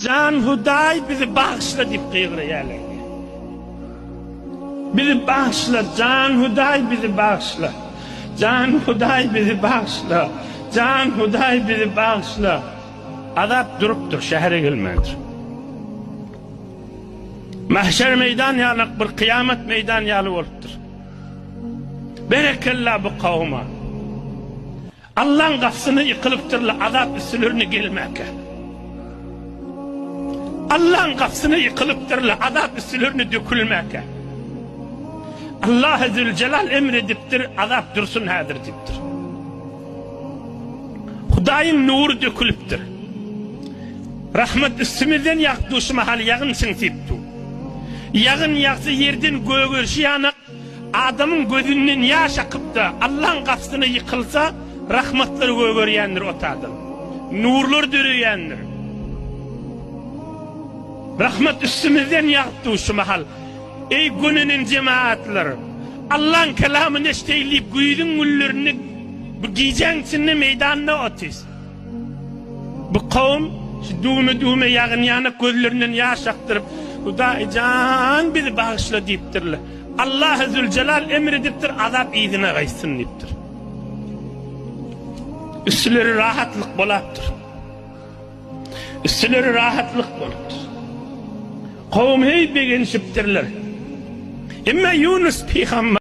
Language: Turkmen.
Jan Hudaý bizi bagyşla diýip gygyrýarlar. Bizi bagyşla, Jan Hudaý bizi bagyşla. Jan Hudaý bizi bagyşla. Jan Hudaý bizi bagyşla. Azap durupdyr, şähere gelmändir. Mahşer meýdan ýaly, bir kyýamat meýdan ýaly bolupdyr. Berekella bu kawuma. Allaň gapysyny ýykylypdyrla azap üstülerine gelmäkä. Allaň gapysyny ýykylypdyrla azap üstülerine dökülmäkä. Allah Zülcelal emr edipdir, azap dursun häzir diýipdir. Hudaýyň nury dökülipdir. Rahmet üstümizden ýagyp duşy mahaly ýagyn siňsip du. Ýagyn ýagsa ýerden gögerişi ýana Adamyň gözünden ýaş akyp-da, Allaň gapysyna ýykylsa, rahmatlar gögerýändir ot adam. Nurlar döreýändir. Rahmat üstümizden ýagyp dur şu mahal. Eý, gönenen jemagatlar! Allaň kelamyny eşdeýin diýip, güýzüň günlerinde bu gijäň içinde meýdanda otys. Bu kavum şu düwme düwme ýagyn ýanak gözlerinden ýaş akdyryp Hudaý jan bizi bagyşla diýipdirler. Allahy Züljelal emr edipdir azap yzyna gaýtsyn diýipdir. Üstüleri rahatlyk bolapdyr. Üstüleri rahatlyk bolupdyr. Kavum heý begenişipdirler. Emma Yunus pygamber